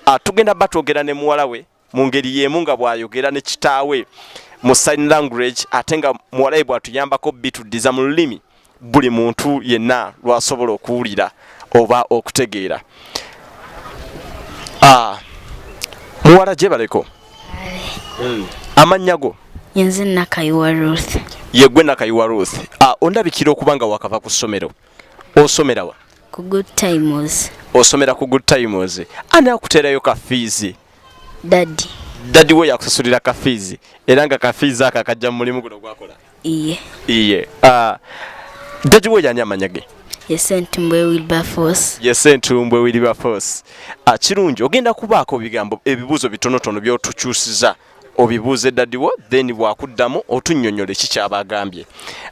Ah, tugenda ba twogera ne muwala we mu ngeri y'emu nga bw'ayogera ne kitaawe mu sign language ate nga muwala we bw'atuyambako bituddiza mu lulimi buli muntu yenna lw'asobola okuwulira oba okutegeera ah, muwala gyebaleko hmm. amannya go yenze nakayiwa ruth yegwe nakayiwa ruth ah, ondabikira okuba nga wakava ku ssomero osomerawa ku good times osomera ku good times ani akuteerayo ka fiizi dadi dadi we yakusasulira ka fiizi era nga ka fiizi ako akajja mu mulimu guno gwakola iye iye uh, dadi we yani amanya ge yesentumbwe wilberforce yesentumbwe wilberforce akirungi ah, ogenda kubaako bigambo ebibuuzo bitonotono byotukyusiza obibuuze dadiwo then bwakuddamu otunyonyole kikyaba agambye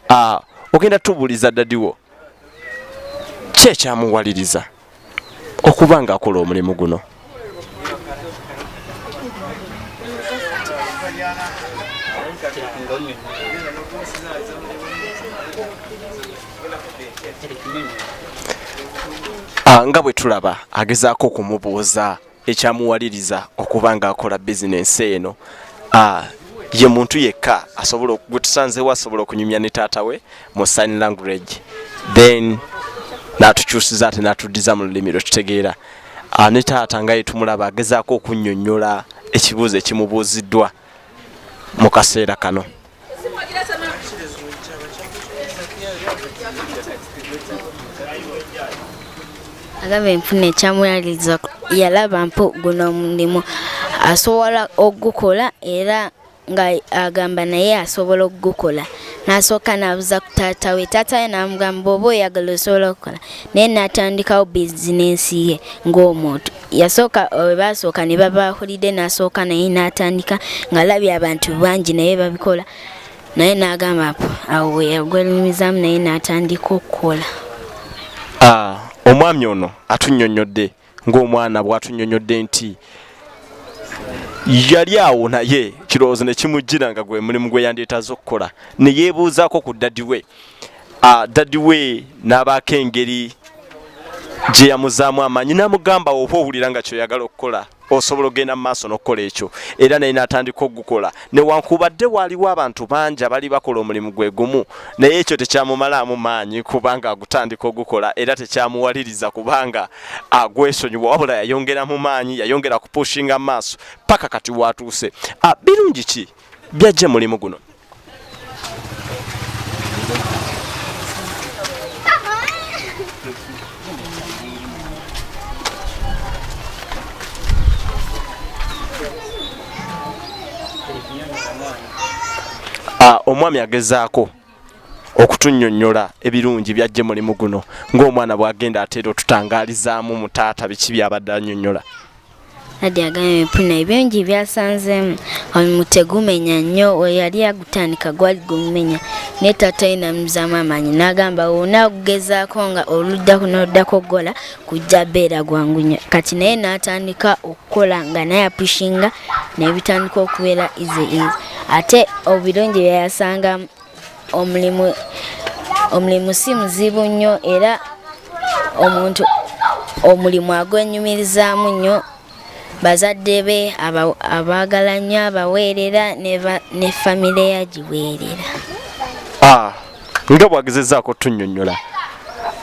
ah, ogenda tubuliza dadiwo ki ekyamuwaliriza okuba nga akola omulimu guno ah, nga bwe tulaba agezaako okumubuuza ekyamuwaliriza okuba ng'akola bizinensi eno ye muntu yekka asobola gwetusanzewo asobola okunyumya ne taata we mu sign language then natukyusiza ate natuddiza mu lulimi lwetutegeera ah, ne taata nga yetumulaba agezaako okunyonyola ekibuuzo ekimubuuziddwa mu kaseera kano agamba enfuna ekyamuyaliriza yalaba mpo guno omulimu asobola okugukola era nga agamba naye asobola okugukola n'asooka n'abuza ku taata we taata we n'amugamba oba oyagala osobola okukola naye n'atandikawo bizinensi ye ng'omuntu yasooka eh, baasooka ne baba holide n'asooka naye n'atandika ng'alabye abantu bangi naye babikola naye n'agamba awo we yagwenyumizaamu naye n'atandika okukola ah, omwami ono atunnyonnyodde ng'omwana bw'atunnyonnyodde nti yali awo naye kirowoozo ne kimujjira nga gwe mulimu gwe yandeetaza okukola ne yeebuuzaako ku ddadi we ah, dadi we n'abaako engeri gye yamuzaamu amaanyi n'amugamba oba owulira nga kyoyagala okukola osobola okugenda mu maaso n'okukola ekyo era naye n'atandika okugukola newankubadde waaliwo abantu bangi abali bakola omulimu gwe gumu naye ekyo tekyamumalaamu maanyi kubanga agutandika ogukola era tekyamuwaliriza kubanga agwesonyiwa wabula yayongera mu maanyi yayongera kupushinga maaso paka kati waatuuse ah, birungi ki byajja mulimu guno ah, omwami agezaako okutunyonyola ebirungi byajje mulimu guno ng'omwana bwagenda ateera otutangalizaamu mu taata biki byabadde anyonyola adi agambye empuna ebingi byasanzeemu omulimu tegumenya nnyo weyali agutandika gwali gumumenya naye taata ye namuzamu amaanyi n'agamba wona okugezaako nga oluddako n'oluddako okugola kujja beera gwangu nnyo kati naye n'atandika oku kola nga naye apushinga nebitandika okubeera izi izi ate obirungi byeyasanga omulimu omulimu si muzibu nnyo era omuntu omulimu agwenyumirizaamu nnyo bazadde be abaagala nnyo abaweerera ne famire yagiweerera ah, nga bwagezezaako tunyonyola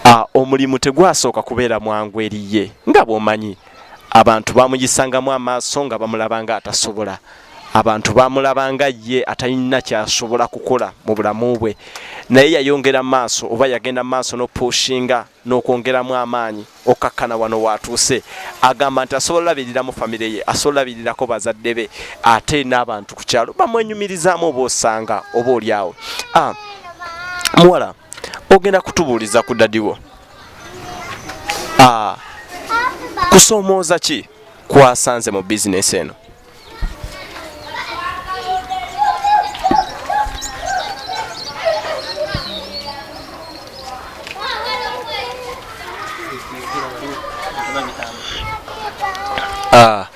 ah, omulimu tegwasooka kubeera mwangu eriye nga bwomanyi abantu bamugisangamu amaaso nga bamulabanga atasobola abantu bamulabanga ye atalina kyasobola kukola mu bulamu bwe naye yayongera maaso oba yagenda maaso nopushinga nokwongeramu amaanyi okkakkana wano watuuse agamba nti asobola olabiriramu famire ye asobola olabirirako bazadde be ate n'abantu ku kyalo bamwenyumirizaamu oba osanga oba olyawo ah, muwala ogenda kutubuuliza ku dadiwo ah, kusoomooza ki kwasanze mu bizinesi eno ah,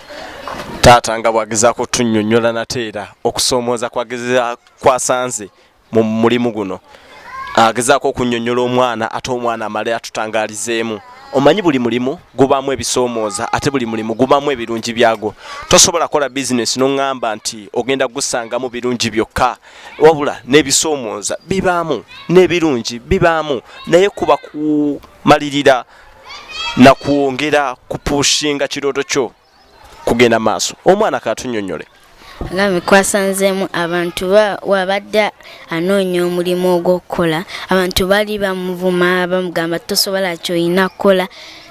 taata nga bwagezaako otunnyonnyola nate era okusoomooza kwagezaako kwasanze mu mulimu guno agezaako okunnyonnyola omwana ate omwana amale atutangalizeemu omanyi buli mulimu gubaamu ebisoomooza ate buli mulimu gubaamu ebirungi byagwo tosobola kukola bizinesi noŋŋamba nti ogenda kugusangamu birungi byokka wabula n'ebisoomooza bibaamu n'ebirungi bibaamu naye kuba kumalirira nakwongera kupushinga kirooto kyo kugenda maaso omwana katunyonyole ngami kwasanzemu abantu wabadde anoonya omulimu ogw'okukola abantu bali bamuvuma bamugamba tosobola kyolina kukola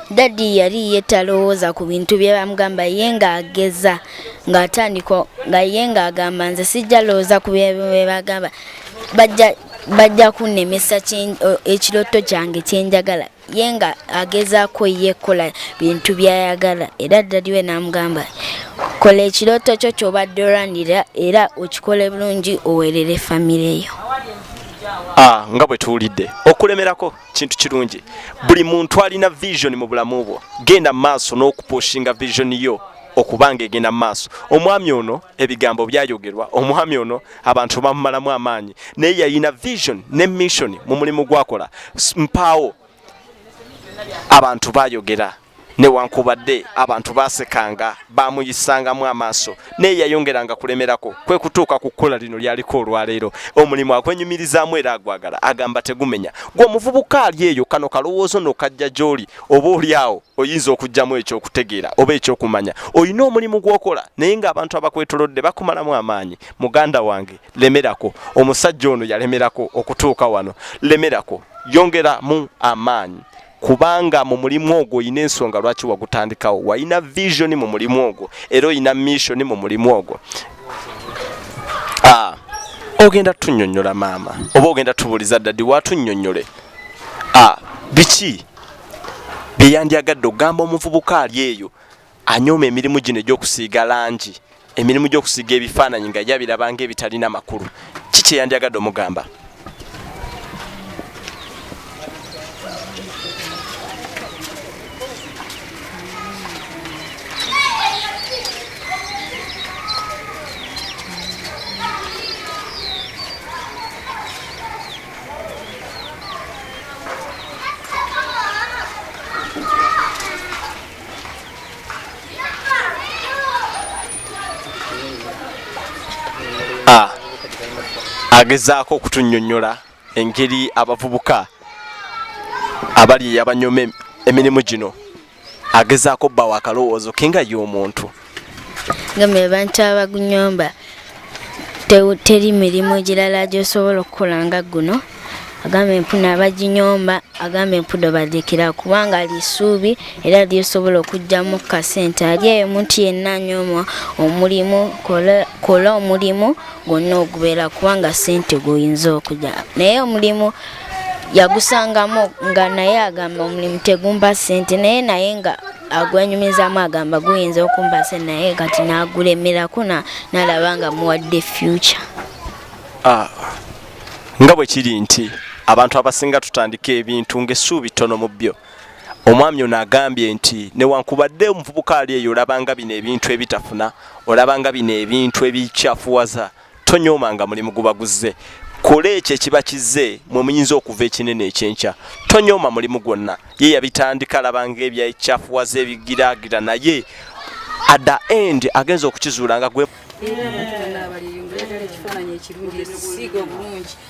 dadi yali ye talowooza ku bintu bye bamugamba ye ng'ageza ng'atandika nga ye ng'agamba nze sijja lowooza ku bye bagamba bajja bajja kunnemesa ekiroto kyange kyenjagala ye nga agezaako ye kola bintu byayagala era ddadi we n'amugamba kola ekirooto kyo kyobadde olanira era okikole bulungi owerere famire yo ah, nga bwe tuwulidde okulemerako kintu kirungi buli muntu alina vision mu bulamu bwo genda mu maaso n'okupushinga vision yo okubanga egenda maaso omwami ono ebigambo byayogerwa omwami ono abantu bamumalamu amaanyi naye yalina vision ne mission mu mulimu gwakola mpaawo abantu bayogera newankubadde abantu basekanga bamuyisangamu amaaso naye yayongeranga kulemerako kwe kutuuka ku kkola lino lyaliko olwaleero omulimu agwenyumirizaamu era agwagala agamba tegumenya gwe omuvubuka ali eyo kano kalowoozo nokajja gy'oli oba oli awo oyinza okujjamu ekyokutegeera oba ekyokumanya olina omulimu gwokola naye ngaabantu abakwetolodde bakumalamu amaanyi muganda wange lemerako omusajja ono yalemerako okutuuka wano lemerako yongeramu amaanyi kubanga mu mulimu ogwo olina ensonga lwaki wagutandikawo walina visioni mu mulimu ogwo era olina missioni mu mulimu ogwo ah, ogenda tunyonyola maama oba ogenda tubuuliza ddadi watunyonyole ah, biki bye yandyagadde okugamba omuvubuka ali eyo anyooma emirimu gino egy'okusiiga langi emirimu gy'okusiiga ebifaananyi nga yabirabanga ebitalina makulu ki kye yandyagadde omugamba ah, agezaako okutunyonyola engeri abavubuka abali abanyome emirimu gino agezaako bba wa kalowoozo ke nga ye omuntu ngamba abantu abagunyomba teri mirimu egirala gyosobola okukola nga guno agamba empuna abaginyomba agamba empudo badekera kubanga ali isuubi era lyosobola okugyamu kasente ali eyo omuntu yenna anyoma omulimu kola omulimu gwonna ogubeera kubanga sente guyinza okugya naye omulimu yagusangamu nga naye agamba omulimu tegumba sente naye naye nga agwenyumizamu agamba guyinza okumba sente naye kati nagulemerako nalaba nga muwadde future ah, nga bwe kiri nti abantu abasinga tutandika ebintu ngaessuubi ttono mu byo omwami ono agambye nti newankubadde omuvubuka ali eyo olabanga bino ebintu ebitafuna olabanga bino ebintu ebikyafuwaza tonyooma nga mulimu guba guzze kola ekyo ekiba kizze mwe muyinza okuva ekinene ekyenkya tonyooma mulimu gwonna ye yabitandika labanga ebyakyafuwaza ebigiraagira naye at the end agenza okukizuula nga gwe mm.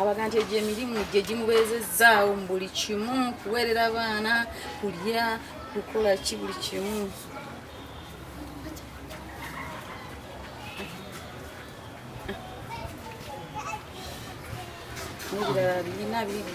abaga nti egyo emirimu gye gimubeezezzaawo mu buli kimu kuweerera abaana kulya kukola ki buli kimu ebirala birina biri